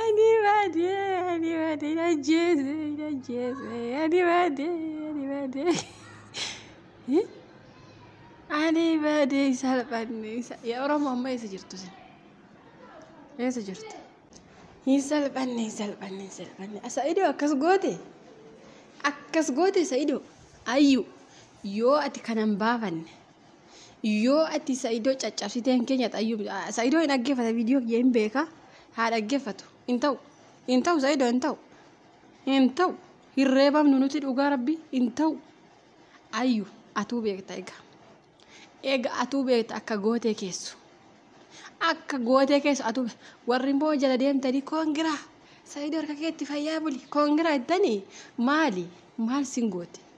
Ani baadee ani baadee na jeese na jeese ani baadee ani baadee. Ani baadee salphanne ya Oromoo amma eessa jirtu sin? Eessa jirtu? Hin salphanne hin salphanne hin salphanne. Sa'idoo akkas goote akkas goote sa'idoo ayyu yoo ati kanan baafanne Yoo ati sa'idoo caccabsitee hin keenyata ayyuu sa'idoo hin dhaggeeffata viidiyoo kiyya hin beeka haa dhaggeeffatu hin ta'u hin ta'u sa'idoo hin ta'u hin ta'u hin reebamnu nuti dhugaa rabbi hin ta'u ayyu atuu beekta egaa egaa atuu beekta akka gootee keessu akka gootee keessu atuu warri immoo jala deemtanii koongiraa sa'idoo harka keetti fayyaa buli koongiraa ittanii maali maal sin goote.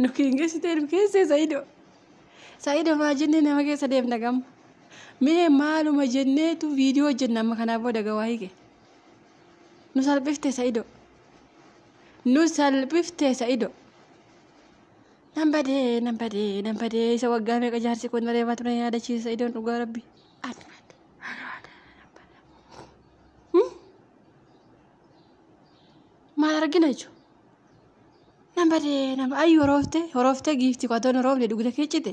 nu kiingeessitee nu keessee sayido sayido maa jennee nama keessa deemna gamma mee maaluma jenneetu viidiyoo hojjenna amma kanaa booda gawaa hike nu salphifte sayido nu salphifte sayido nan badee nan badee nan badee isa waggaa meeqa jaarsi kun reebaa ture yaadachiisa sayidoon dhugaa rabbi maal argina jechuudha. Nan badee nama ayyu horoofte horoofte giifti qotoon horoofte dugda kee cite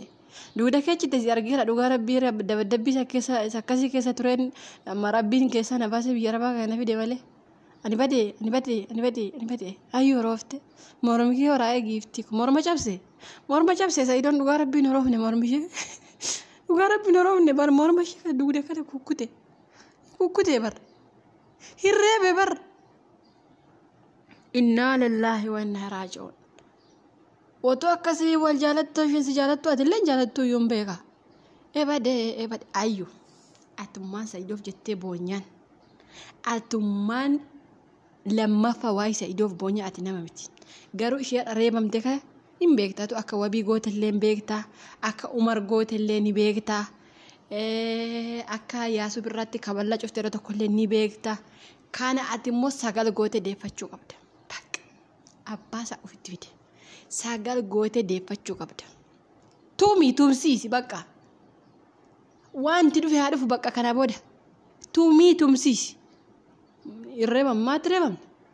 dugda kee cite si argeera dhugaa rabbii dabadabbii isa keessa isa akkasii keessa tureen amma rabbiin keessa na baasee biyya rabaa kana na fide malee. Ani badee ani badee ani badee ani badee ayyu horoofte mormi kee horaa'ee giifti morma cabse morma cabse isa idoon dhugaa rabbiin horoofne mormi ishee dhugaa rabbiin horoofne bar morma ishee dugda kana kukkute kukkute bar. hin reebe bar innaa lillaahi wa innaa raaji'uun otoo akkasii wal jaalattu isheen si jaalattu ati illee hin jaalattu iyyuu hin beeka ebade ebade ayyu atummaan sa'iidoof jettee boonyaan atummaan lammaffaa waa'ee sa'iidoof boonyaan ati nama miti garuu ishee reebamte kana Hin beekta atu akka wabii gootellee hin beekta akka umar gootellee ni beekta akka yaasuu birraatti kaballaa cufte yeroo tokkollee ni beekta kana ati immoo sagal goote deeffachuu qabda bakka abbaa isaa ofitti fide sagal goote deeffachuu qabda tuumii tumsiisi bakka wanti dhufe haa dhufu bakka kana booda tuumii tumsiisi hin reebammaa ati reebamna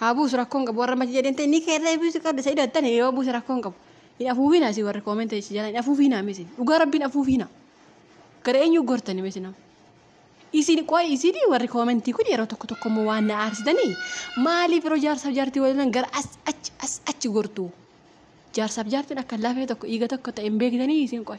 haa buusu rakkoon qabu warra mati jedheen ta'e ni keerree buusu qabda sa'ido attan yoo buusu rakkoon qabu hin afuufiina si warri koomenta si jala hin afuufiina misi dhugaa rabbiin afuufiina gara eenyu gortani misi nama isin qoy isin warri koomentii kun yeroo tokko tokko immoo waan na aarsitanii maaliif yeroo jaarsaaf jaartii waliin gara as achi as achi gortu jaarsaaf jaartiin akka lafee tokko dhiiga tokko ta'e hin beektanii isin qoy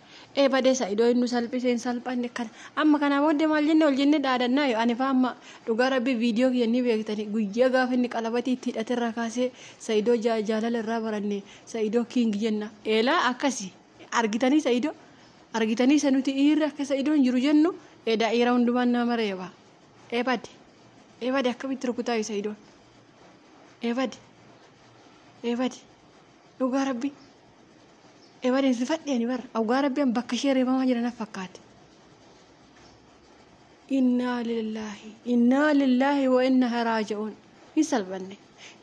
ee badee sa'idoo hin nu salphise hin salphanne kan amma kanaa booddee maal jenne ol jenne dhaadannaa yoo ani faa amma dhugaa rabbi viidiyoo kiyya ni beektani guyyaa gaafa inni qalabatii itti hidhate irraa kaasee sa'idoo jaalala irraa baranne sa'idoo kiing jenna eelaa akkasi argitanii sa'idoo argitanii isa nuti dhiirri akka sa'idoo hin jiru jennu edaa dhiira hundumaan nama reeba ee bade ee bade akkamitti rukutaa yoo sa'idoo ee bade ee bade dhugaa rabbi ebadeensifadhe ani bara awgaa rabbi an bakka ishee reebamaa jira naf fakkaate innaa lillaahi innaa lillaahi wa inna haraaja'uun hin salphanne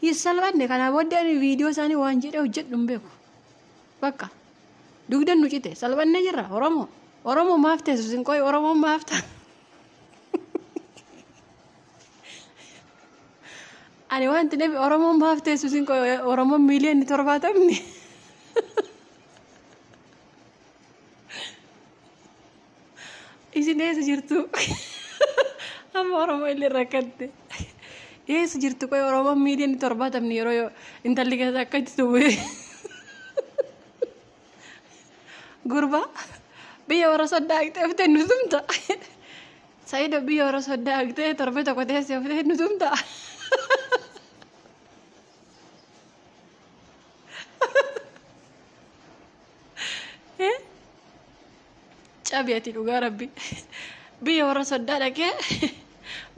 hin salphanne kanaa booddee ani viidiyoo isaanii waan jedhee hojjedhu hin beeku bakka dugdan nu cite salphanne jirra oromoo oromoo maaf teessu sin qoy oromoon maaf ta'a Ani wanti dhabe Oromoon maaf teessu isin qoy Oromoon miiliyoonni torbaatamni. Isin eessa jirtu? Amma Oromoo illee rakkatte. Eessa jirtu qoy Oromoon miiliyoonni torbaatamni yeroo intalli keessaa akka itti tubu'e. Gurbaa biyya warra soddaa haqxee oftee nu tumta. Sayido biyya warra soddaa haqxee torbee tokko teessee oftee nu tumta. Eh? Cabi ati dhugaa rabbi. Biyya warra soddaa dhaqee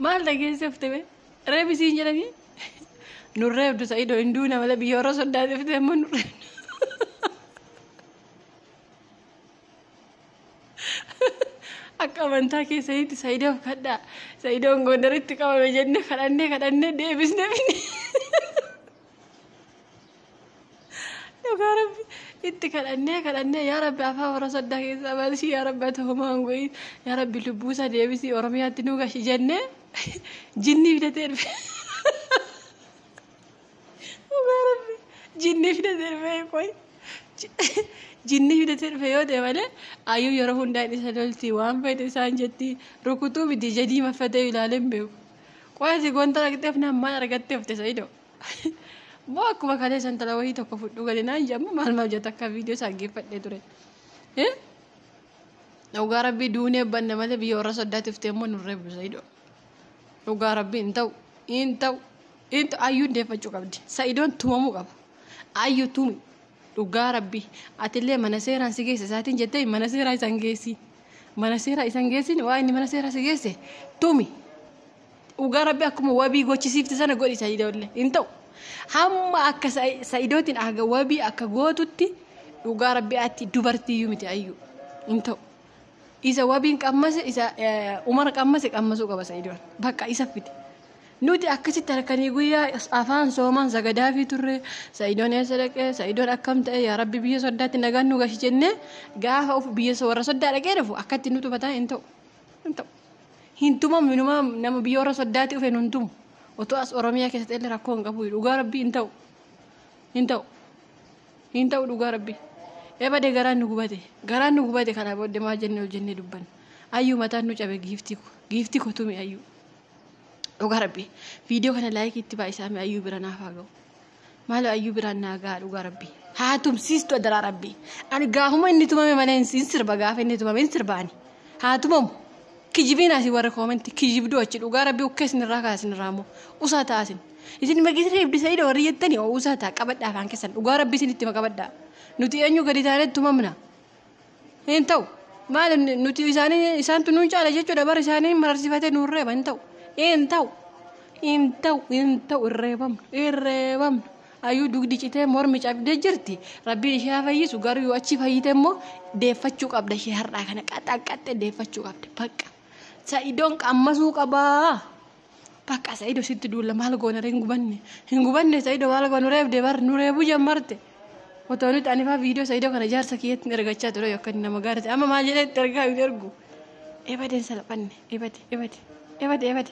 maal dhageessee oftee bee? Reebi siin jedhanii nu reebdu sa'idoo hin duuna malee biyya warra soddaa dhufte immoo nu akka amantaa keessanitti sa'idoof kadhaa sa'idoon gondaritti qabame jennee kadhannee kadhannee deebisnee finne. Dhugaa rabbi itti kadhannee kadhannee yaa rabbi afaan warra soddaa keessaa baasii yaa rabbi ati homaa hin go'iin yaa rabbi lubbuu isaa deebisii oromiyaatti nu gashi jennee jinnii fidatee dhufe. Dhugaa rabbi jinnii fidatee dhufe qoy jinnii fidatee dhufe yoo ta'e malee ayyuu yeroo hundaa hin isa lolti waan fayyidu isaan jetti rukutuu miti jedhii maffatee ilaalee hin beeku. Qoy ati gonta argatteef nammaan argattee ofte sa'idoo. Moo akkuma kalee santala wayii tokko fudhu gadi naan jedhamu maal maal jetta akka viidiyoo isaa geeffadhee ture. Dhugaa rabbii duunee banna malee biyya warra soddaatiftee immoo nurree busa hidhoo. Dhugaa rabbii hin ta'u hin ta'u hin ta'u ayyuun deeffachuu qabdi. Sa'idoon tumamuu qaba. Ayyu tumi dhugaa rabbii atillee mana seeraan si geesse isaatiin jettee mana seeraa isaan geessi. Mana seeraa isaan geessin waa inni mana seeraa si geesse tumi. Dhugaa rabbi akkuma wabii gochisiifte sana godhi sa'idoollee hin ta'u. Hamma akka sa'idootiin haga wabii akka gootutti dhugaa rabbi atti dubartiiyyuu miti ayyuu hin ta'u. Isa wabiin qammase isa umar qammase qammasuu qaba sa'idoon bakka isa fide. Nuti akkasitti halkanii guyyaa afaan soomaan sagadaafii turre sa'idoon eessa dhaqee sa'idoon akkam ta'e yaa rabbi biyya soddaatti nagaan nu gashi jennee gaafa of biyya warra soddaa dhaqee dhufu akkatti nu tufataa hin ta'u. hin ta'u. Hin tumamu inumaa nama biyya warra soddaati dhufe nun tumu. Otoo as Oromiyaa keessatti illee rakkoo hin qabu dhugaa rabbii hin ta'u. Hin ta'u. Hin ta'u dhugaa rabbii. Ebade garaan nu gubate. Garaan nu gubate kanaa booddee maal jennee ol jennee dubbanna. Ayyuu mataan nu cabe giiftii ko. Giiftii ko tumi ayyuu. Dhugaa rabbii. Viidiyoo kana laayikii itti baay'isaame ayyuu bira naaf haa ga'u. Maaloo ayyuu biraan naa gahaa dhugaa rabbi. Haa tumsiistu adaraa rabbi. Ani gaafuma inni tumame malee hin hin sirba gaafa inni tumame hin sirba ani. Haa tumamu. Kijibiin asi warri koomenti kijibduu achi dhugaa rabbi ukkee isinirraa kaa isinirraa immoo usaa ta'a isin. Isin magis reebdi sa'iidha warri jettani oo usaa ta'a qabadhaa afaan keessan dhugaa rabbi isin itti qabadhaa. Nuti eenyu gadi taanee tumamna. Hin ta'u. Maal nuti isaanii isaantu nuun caala jechuudha bara isaanii mararsifatee nuun reeba hin ta'u. Hin ta'u. Hin ta'u. Hin ta'u. Hin reebamnu. Hin reebamnu. Ayyuu dugdi citee mormi cabdee jirti. Rabbiin ishee haa fayyisu garuu yoo achi fayyite immoo deeffachuu qabda ishee har'aa kana qaxaqqaxxee deeffachuu qabda. Bakka. Sa'idoon qammasuu qabaa. Bakka Sa'ido sitti duulla maal goona hin gubanne. Hin gubanne Sa'ido maal goona nu reebde bar nu reebu jammarte. Otoo nuti anifaa viidiyoo Sa'ido kana jaarsa kiyyatti ergachaa ture yookaan nama gaariiti. Amma maal jedhee itti ergaa hin ergu. Ebadeen salphanne ebade ebade ebade ebade.